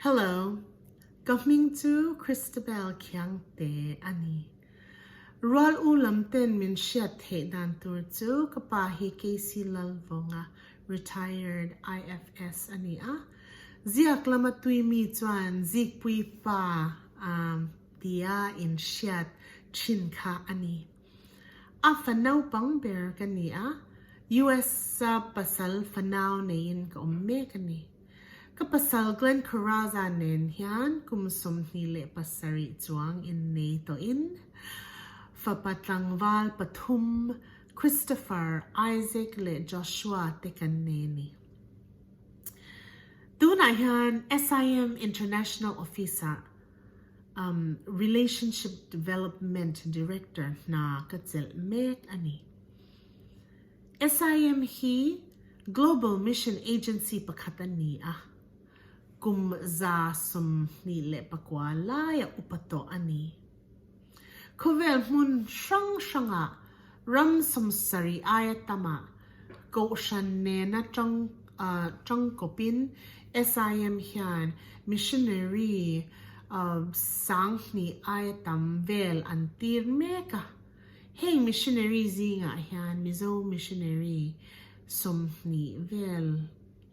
Hello, ka hming chu Christabel Khiangte a ni. Rual u lam ten min hriat theih dan tur chu ka pa hi KC Lalvawnga Retired IFS a ni a. Ziak lam a tui mi chuan Zikpuipa tia in hriat thin kha a ni. A fa naupang ber ka ni a, US-a pasal fanau neiin ka awm mek a ni. Ka pasal Glenn Coraza nen hian kum sawmhnih leh pasarih chuang in nei tawhin fapa tlangval pathum Christopher, Isaac leh Joshua te kan nei a ni. Tunah hian SIM International Office-ah Relationship Development Director hna ka chelh mek a ni. SIM hi Global Mission Agency pakhat a ni a, kum za sum hnih leh pakua laia upa tawh a ni. Khawvel hmun hrang hrangah ram samsarih aia tamah Kohhran nena tangkawpin SIM hian missionary sanghnih aia tam vel an tir mek a. Heng missionary zingah hian Mizo missionary sawmhnih vel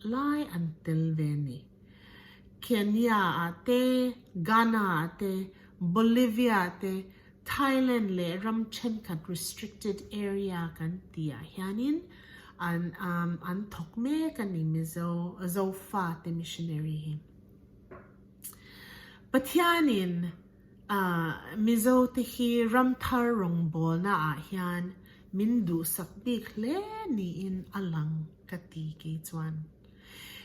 lai an tel ve ni. Kenya ah te, Ghana ah te, Bolivia ah te, Thailand leh ram thenkhat restricted area kan ti ah hianin an an thawk mek a ni Mizo Zofa te missionary hi. Pathianin. Mizo te hi ram thar rawngbawlna ah hian min duhsak bik hle niin a lang ka ti ke chuan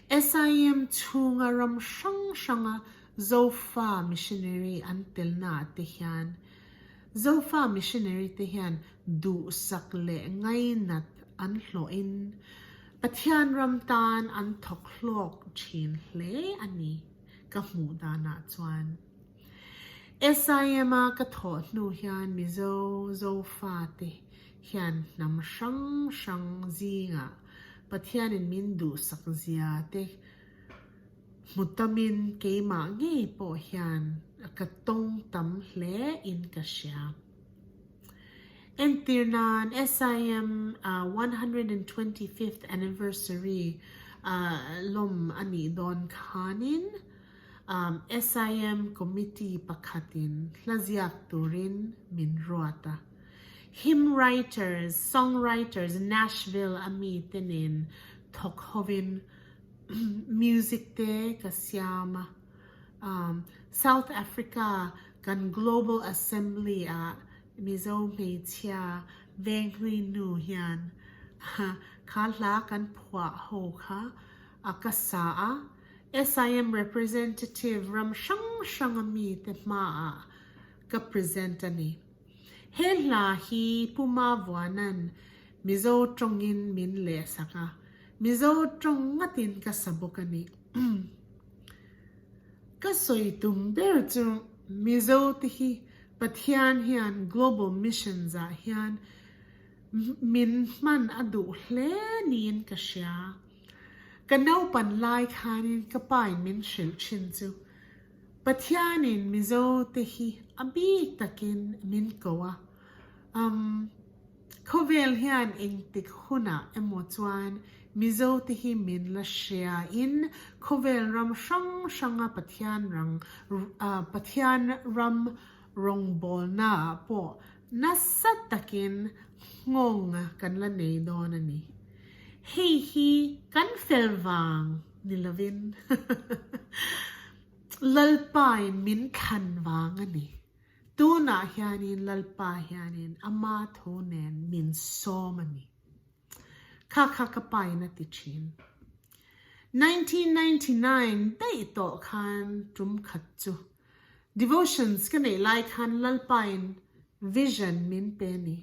SIM chhunga ram hrang hranga Zofa missionary an telna ah te hian Zofa missionary te hian duhsak leh ngainat an hlawh in Pathian ram tan an thawk hlawk thin hle a ni ka hmuh dan ah chuan. SIM a ka thawh hnu hian Mizo Zofa te hian hnam hrang hrang zingah Pathianin min duhsak zia te hmu tamin keimah ngei pawh hian ka tawng tam hle in ka hria. Entir nan SIM a one hundred and twenty fifth anniversary lawm a nih dawn khanin, SIM committee pakhatin hla ziak turin min ruat a, hymn writers, song writers Nashville a mi te nen thawk hovin music te ka siam a, South Africa kan Global Assembly ah Mizo hmeichhia Venghlui nu hian kha hla kan phuah ho kha ka sa a, SIM representative ram hrang hranga mite hmaah ka present a ni. He hla hi Puma Vuanan Mizo tawngin min lehsak a, Mizo tawng ngatin ka sa bawk a ni. Ka sawi tum ber chu Mizo te hi Pathian hian Global Missions ah hian min hman a duh hle niin ka hria. Ka naupan lai khanin ka pain min hrilh thin chu Pathianin Mizo te hi a bik takin min ko a, umm, khawvel hian engtik hunah emaw chuan Mizo te hi min la hriain khawvel ram hrang hranga Pathian rang, Pathian ram rawngbawlnaah pawh Nasa takin nghawng a kan la nei dawn a ni. Hei hi kan fel vang ni lovin Lalpain min thlan vang a ni. Tunah hianin Lalpa hianin ama thu nen min sawm a ni. Kha kha ka pain a ti thin. Nineteen ninety nine daih tawh khan tum khat chu Devotions ka neih lai khan Lalpain Vision min pe a ni.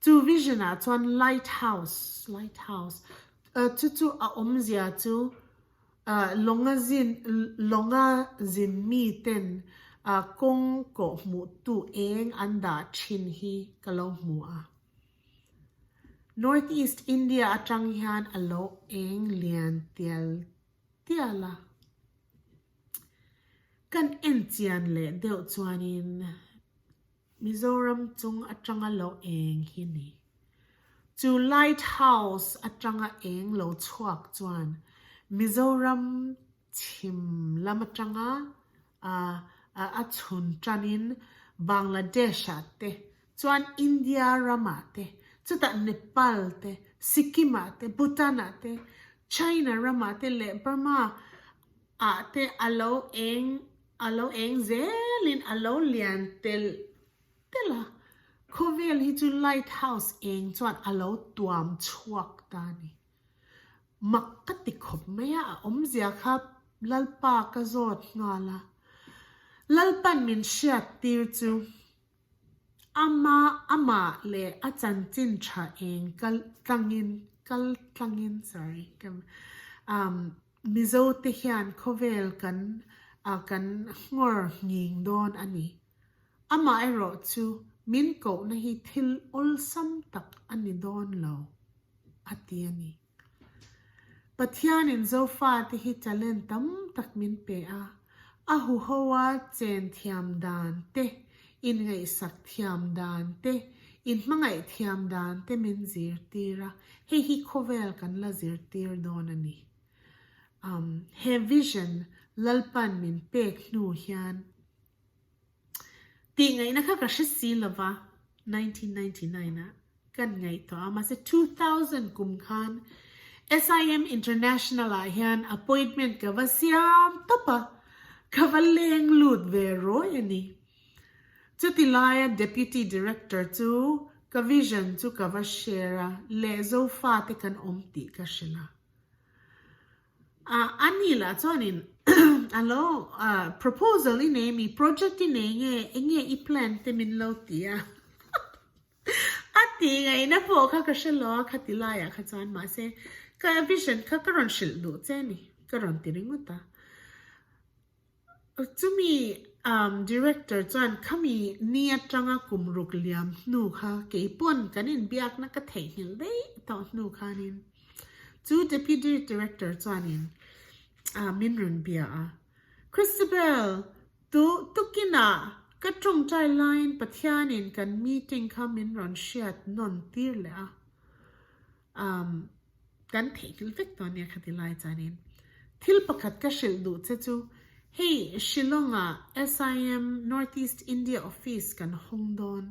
Chu Vision ah chuan Light House, Light House, chu chu a awm zia chu lawnga zin lawnga zin mi ten kawng kawhhmuh tu eng an dah thin hi ka lo hmu a. North East India atang hian a lo eng lian tial tial a. Kan en chian leh deuh chuanin Mizoram chung atanga lo eng hi ni. Chu Light House atanga eng lo chhuak chuan Mizoram chhim lam atanga a chhun tanin Bangladesh ah te chuan India ram ah te, chutah Nepal te, Sikkim ah te, Bhutan ah te, China ram ah te leh Burma ah te a lo eng a lo eng zel in a lo lian telh telh a, khawvel hi chu light house eng chuan a lo tuam chhuak ta a ni. Mak ka ti khawp mai a, a awmzia kha Lalpa ka zawt nghal a. Lalpa'n min hriat tir chu ama amah leh a chanchin tha eng kal tlangin, kal tlangin sorry um Mizote hian khawvel kan kan nghawr nghing dawn a ni. Amah erawh chu min kohna hi thil awlsam tak a ni dawn lo, a ti a ni. Pathianin Zofate hi talent tam tak min pe a, a huhoa chen thiam dan te, inngaihsak thiam dan te, inhmangaih thiam dan te min zirtir a, hei hi khawvel kan la zirtir dawn a ni. Umm he vision Lalpa'n min pek hnu hian Tihngaihna kha ka hre si lo va, nineteen ninety nine ah kan ngaih tawh a, mahse two thousand kum khan SIM International ah hian appointment ka va siam tawp a, ka va leng lut ve rawi a ni. Chuti laia Deputy Director chu ka vision chu ka va share a, lehzo fate kan awm tih ka hre la. A ni lah chuanin a lo proposal i nei mi, project i nei nge, eng nge i plan te min lo ti a, a tih ngaihna pawh kha ka hre lo a, khati laiah kha chuan mahse ka vision kha ka rawn hrilh duh che a ni, ka rawn ti ringawt a. Chumi Director chuan khami ni atanga kum ruk liam hnu kha keipawn kan inbiakna ka theihnghilh daih tawh hnu khanin chu Deputy Director chuanin min rawn bia a. Christabel, tu tukinah ka tawngtai laiin Pathianin kan meeting kha min rawn hriat nawn tir leh a. Umm kan theihkilh vek tawh ania kha ti lai chuanin thil pakhat ka hrilh duh che chu hei Shillong ah SIM North East India Office kan hawng dawn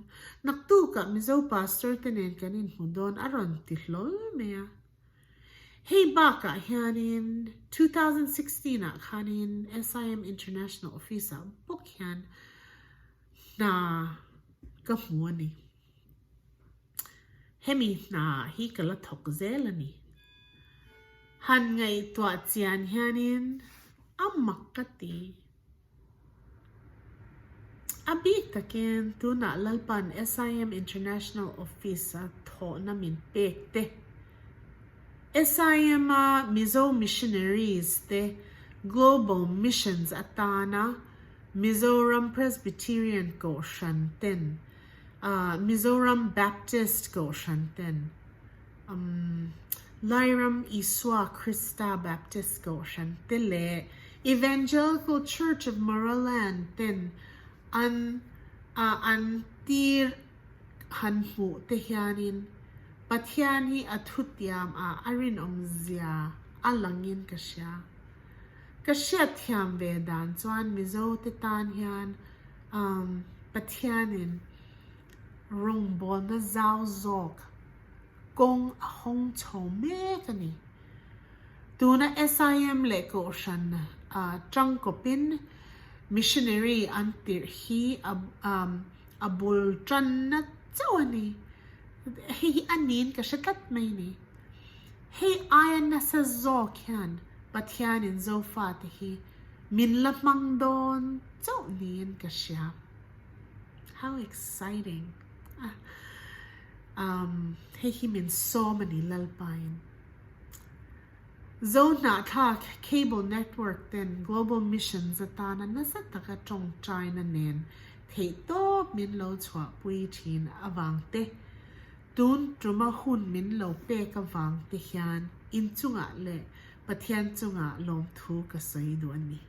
naktuk ah Mizo Pastor te nen kan inhmu dawn a rawn ti hlawl mai a. Hei bakah hianin two thousand sixteen ah khanin SIM International Office ah bawk hian hna ka hmu a ni. Hemi hna hi ka la thawk zel a ni. Han ngaihtuah chian hianin a mak ka ti. A bik takin tunah Lalpan SIM International Office a thawhna min pek te, SIM a Mizo Missionaries te Global Missions atana Mizoram Presbyterian Kohhran ten, Mizoram Baptist Kohhran ten, umm, Lairam Isua Krista Baptist Kohhran te leh Evangelical Church of Maraland ten an ah an tir han hmuh te hianin Pathian hi a thutiam ah a rinawmzia a langin ka hria. Ka hriatthiam ve dan chuan Mizo te tan hian umm Pathianin rawngbawlna zau zawk kawng a hawng chho mek a ni. Tuna SIM leh Kohhran tangkawpin Missionary an tirh hi a bul tanna chauh a ni. Hei hi a niin ka hre tlat mai ni. Hei aia nasa zawk hian Pathianin Zofate hi min la hmang dawn chauh niin ka hria. How exciting! Umm, hei hi min sawm a nih Lalpain. Zohnahthlak cable network ten Global Missions atana nasa taka tawngtaina nen theihtawp min lo chhuahpui thin avangte, Tun tuma hun min lo pek avang te hian inchungah leh Pathian chungah lawmthu ka sawi duh a ni.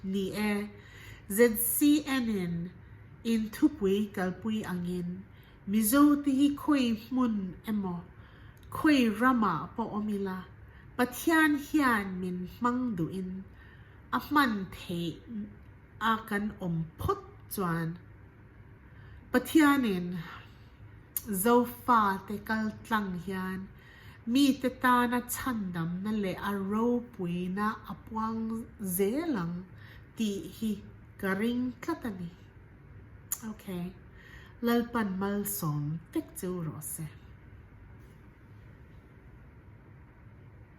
Ni e, ZCN in inthupui kalpui angin Mizo te hi khawi hmun emaw khawi ramah pawh awm ila Pathian hian min hmang duhin a hman theih a kan awm phawt chuan, Pathianin Zofa te kal tlang hian mite tana chhandamna leh a ropuina a puang zel ang tih hi ka ring tlat a ni. Ok, Lalpan malsawm tek chu rawh se.